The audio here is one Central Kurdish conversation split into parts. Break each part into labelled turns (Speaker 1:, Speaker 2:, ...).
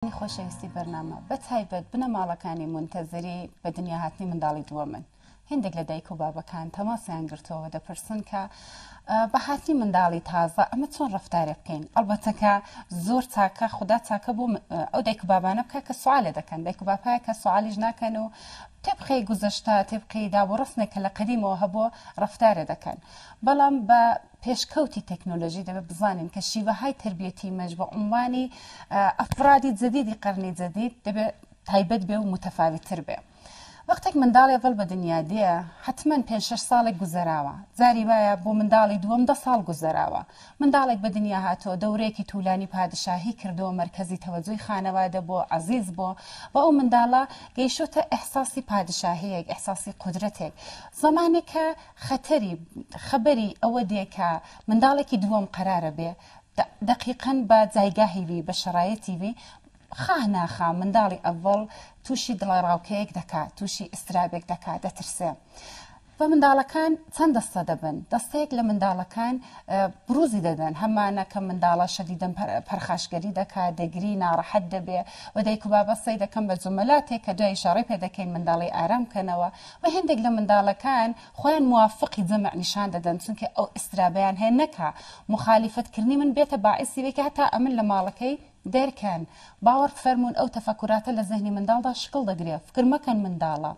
Speaker 1: ئەی خۆشەویستی بەرنامە بە تایبەت بنەماڵەکانی مونتەزری بە دنیا هاتنی منداڵی دووەمن هێندێک لە دایک و بابەکان تەماسیان گرتووەوە دەپرسن کە بە هاتنی منداڵی تازە ئەمە چۆن ڕفتارێ بکەین ئەڵبەتەکە زۆر تاکە خوددا تاکە بۆ ئەو دایک و بابانە بکە کە سوالێ دەکەن دایک و باپایە کە سوالیش ناکەن و تێبقەی گوزەشتا تێبقەی دابوڕستنێک کە لە قەدیمەوە هەبووە ڕفتارێ دەکەن بەڵام بە پێشکەوتی تەکنۆلۆژی دەبێت بزانین کە شیوەهای تەربیەتی مەش بە عونوانی ئەفرادی جەدیدی قەرنی جەدید دەبێت تایبەت بێ و متەفاویتتر بێ. وەختێک منداڵێ ڤڵ بە دنیا دێ حەتمەن پێنج شەش ساڵێک گوزەراوە، جاری وایە بۆ منداڵی دووەم دە ساڵ گوزەراوە. منداڵێک بە دنیا هاتووە دەورەیەکی توولانی پادشاهی کردووە مەرکەزی تەوەجوی خانەوادە بووە، عەزیز بووە و ئەو منداڵە گەیشتۆتە ئیحساسی پادشاهییەک، ئیحساسی قودرەتێک. زەمانێک کە. خەتەری، خەبەری، ئەوە دێ کە منداڵێکی دووەم قەرارە بێ دە دەقیقەن بە جایگاهی وی، بە شەرایەتی وی، خاه ناخا منداڵی ئەڤەڵ تووشی دڵەڕاوکێیەک دەکا، تووشی ئیسترابێک دەکا، دەترسێ. و منداڵەکان چەند دەستە دەبن، دەستەیەک لە منداڵەکان برووزی دەدەن، هەمانە کە منداڵە شەدیدەن پە پەرخاشگەری دەکا، دەگری، ناڕەحەت دەبێ و دایک و بابە سەی دەکەن بە جومەلاتێک کە دواییشە ڕێ پێ دەکەین منداڵی ئارام کەنەوە وە هێندێک لە منداڵەکان خۆیان موافقی جەمع نیشان دەدەن چونکە ئەو ئیسترابەیان هەیە نەکا موخالیفەت کردنی من بێتە باعیسی وەی کە هەتا ئەمن لە ماڵەکەی دەرکەن باوەڕ بفەرموون ئەو تەفەکوراتە لە زەهنی منداڵدا شکڵ دەگرێ فکر مەکەن منداڵە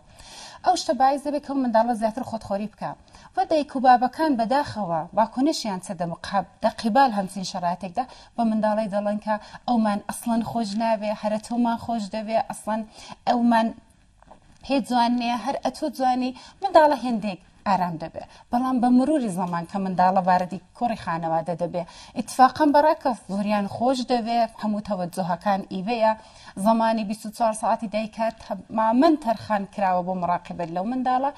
Speaker 1: ئەو شتە باعیس دەبێ کە ئەو منداڵە زیاتر خۆتخۆری بکا وە دایک و بابەکان بەداخەوە واکۆنشیان چە دە مقهب دە قیبال هەمچین شەراتێکدا بە منداڵەی دەڵەن کە ئەومان ئەسڵەن خۆش ناوێ هەرە تۆمان خۆش دەوێ ئەسڵەن ئەومان هێ جوان نیە هەر ئەتوو جوانی منداڵە هێندێک ئارام دەبێ بەڵام بە مروری زەمان کە منداڵە واردی کۆڕی خانەوادە دەبێ ئیتفاقەن بەڕاکە زۆریان خۆش دەوێ هەموو تەوەجوهەکان ئیوەیە زەمانی بیست و چوار سەعاتی دایکە تەمامەن تەرخان کراوە بۆ مڕاقیبەت لەو منداڵە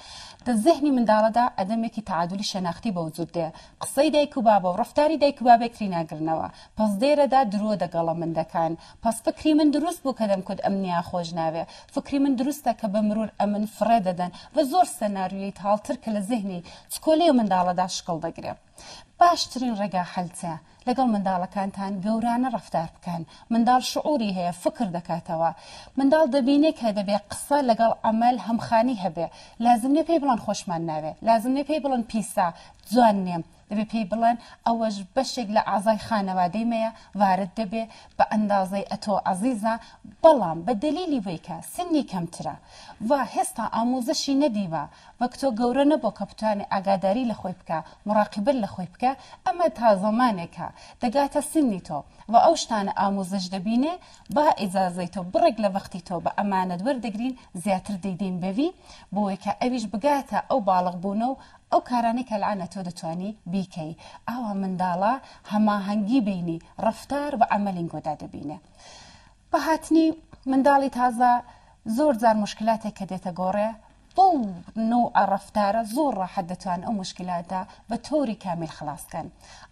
Speaker 1: دە زەهنی منداڵەدا ئەدەمێکی تەعادولی شەناختی بە وجود دێ قسەی دایک و بابە و ڕەفتاری دایک و بابێک ری ناگرنەوە پەس دێرەدا درۆ دەگەڵە مندەکان پس فکری من دروست بوو کە دەم کود ئەمنیا خۆش ناوێ فکری من دروستە کە بە مرور ئەمن فڕێ دەدەن ڤە زۆر سەنارویەی تاڵ تر کە لە زهنی چکۆلەی منداڵە دا شکڵ دەگرێ باش ترین ڕێگا حەل چە لەگەڵ منداڵەکانتان گەورانە ڕەفتار بکەن منداڵ شعوری هەیە فکر دەکاتەوە منداڵ دەبینێ کە دەبێ قسە لەگەڵ عەمەل هەمخانی هەبێ لازم نیە پێی بڵەن خۆشمان ناوێ لازم نیە پێی بڵەن پیسە جوان نیە دەبێ پێی بڵێن ئەوەش بەشێک لە ئەعزای خانەوادەی مەیە وارد دەبێ بە ئەندازەی ئەتۆ عەزیزە بەڵام بە دەلیلی وەی کە سنی کەمترە و هێستا ئاموزشی نەدیوە وەک تۆ گەورە نەبۆ کە بتوانێ ئاگاداری لە خۆی بکا مراقبە لە خۆی بکا ئەمە تا زەمانێ کە دەگاتە سنی تۆ و ئەو شتانە ئاموزش دەبینێ با ئیجازەی تۆ بڕێک لە وەختی تۆ بە ئەمانەت وەردەگرین زیاتر دەیدەین بەوی بۆ وەی کە ئەویش بگاتە ئەو باڵغ بوونە و ئەو کارانەی کە الان تۆ دەتوانی بیکەی ئاوا منداڵە هەماهەنگی بینی ڕەفتار و عەمەلینگۆدا دەبینێ بە هاتنی منداڵی تازە زۆر جار موشکلاتێک کە دێتە گۆڕێ بەو نوعە ڕەفتارە زۆر ڕاحەت دەتوان ئەو مشکلاتە بە تۆری کامیل خلاص کەن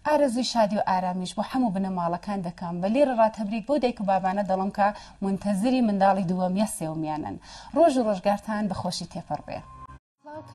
Speaker 1: ئارەزوی شادی و ئارامیش بۆ حەموو بنەماڵەکان دەکەم بە لێرە ڕا تەبریک بەو دایک و بابانە دەڵم کە مونتەزری منداڵی دووەم یا سێومیانن ڕۆژ و ڕۆژگارتان بە خۆشی تێپەڕ بێ.